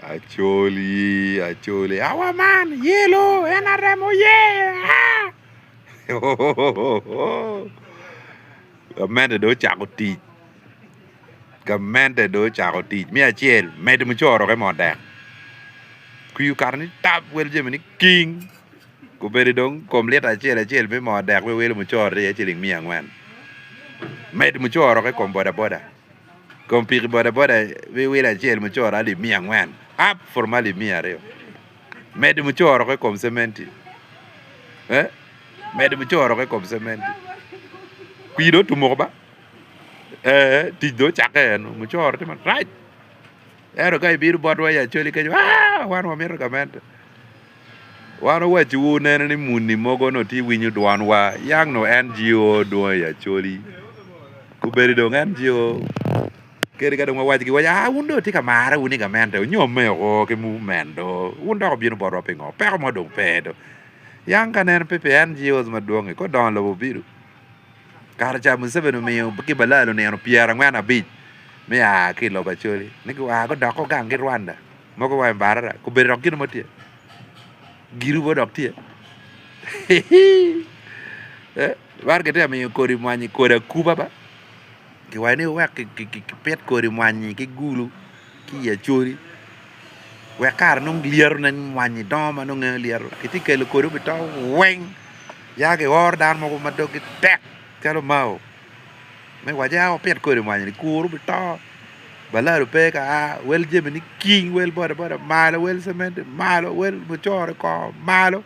Acholi acholi awa man yelo nrm oye gamente dong ocako tic gamente dong ocako tic me acel medo mucoroke mo dek kwir okato ni tap wel jami ni king obedo dong kom lita acel acel me mo dek welo mucoro aye ciling miya angwen medo mucoroke i kom boda boda. Kom piki bodaboda me wilo acel mucoro alip miya angwen up from alip miya aryo medo mucoro ki kom cementi eh medo mucoro ki kom cementi pii dong otumo oko ba ee tic dong ocakke eno mucoro tye marac. Ento ka ibino botwa i Acholi kenyo, aa, wan wamito gamente. Wan owacciwu nene ni muni mogo onongo tye winyo dwanwa, yang onongo NGO dwong i Acholi, obedo dong NGO kadi ka dong wawaco giwaco, aa, wun dong wutye ka marre wun i gamente, onyomme woko ki mument do, wun dok wubino botwa pingo, peko mo dong pe do. Yang ka nen pe pi NGOs madwongi, ka odongo lobo obido. Kare ca Museveni omiyo ki balaa lunino pyera angwen abic me a ki i lobo Acholi ni gua gudoko gang gi Rwanda mogo wa i Mbarara kobedo dok gin mo tye giru mo dok tye man kitye ka miyo kodi mwanyi kodi akuba ba kiwaco ni wek ki pit kodi mwanyi ki gulu ki i acoli wek kare nongo lyeto ne mwanyi dongo ma nongo nge lyeto ki tye kelo kodi obi to weng ya ki oro dano mogo ma dogi tek calo mao me waci ya wapit kodi mwanyi ni kuru obi to balado pe ka a wel jami ni king wel bodaboda malo wel cementi malo wel mucoro kor malo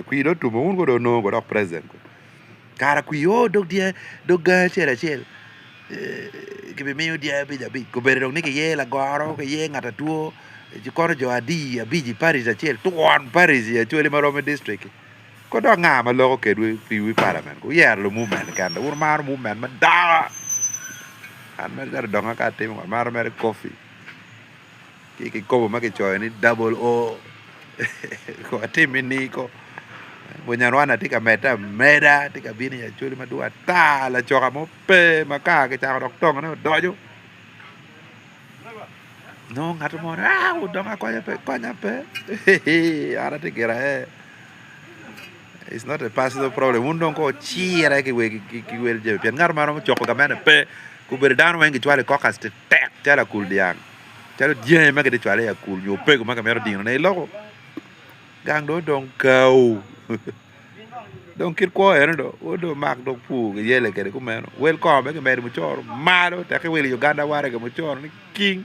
kwi dong otum wun kono dong onongo dok president. Kara ku yo dog dye dog gangi acel acel ki bi miyo dye abic abic kobedi dong ni ki yee lagoro ki ye ngat atwo ci kono jo adi abic i paric acel twon paric i acholi ma rom ki district ki ko dok nga ma loko kedwu ki wi parliament wu yero lu mument ni kene wun imaro mument madongo an mere donga ka atimo amaro mere coffee Ki kikopo ma kicoyo ni double O kong watimi ni ko. Bunyarwanda tye ka medde ameda, tye ka bino i Acholi madwong ata, lacoka mo pe ma ka kicako dok tongone odoco nongo ngat mo ni aa wudong akonya pe, konya pe an atye gira aye. It's not a personal problem wun dong kong wucire ki wel jami pien ngat ma romo coko gamene pe, gubedo dano weng gicwalo i caucus tek calo akul dyang, calo dyangi ma kitye cwalo i akul nyo opego ma kimito dinone i loko, gang dong odong kawu. dong kit kwo eno dong wod dong omak dong pur kiyele kwede kumeno, wel kongo bene kimedo mucoro malo tekki wil i Uganda waragi mucoro ni king.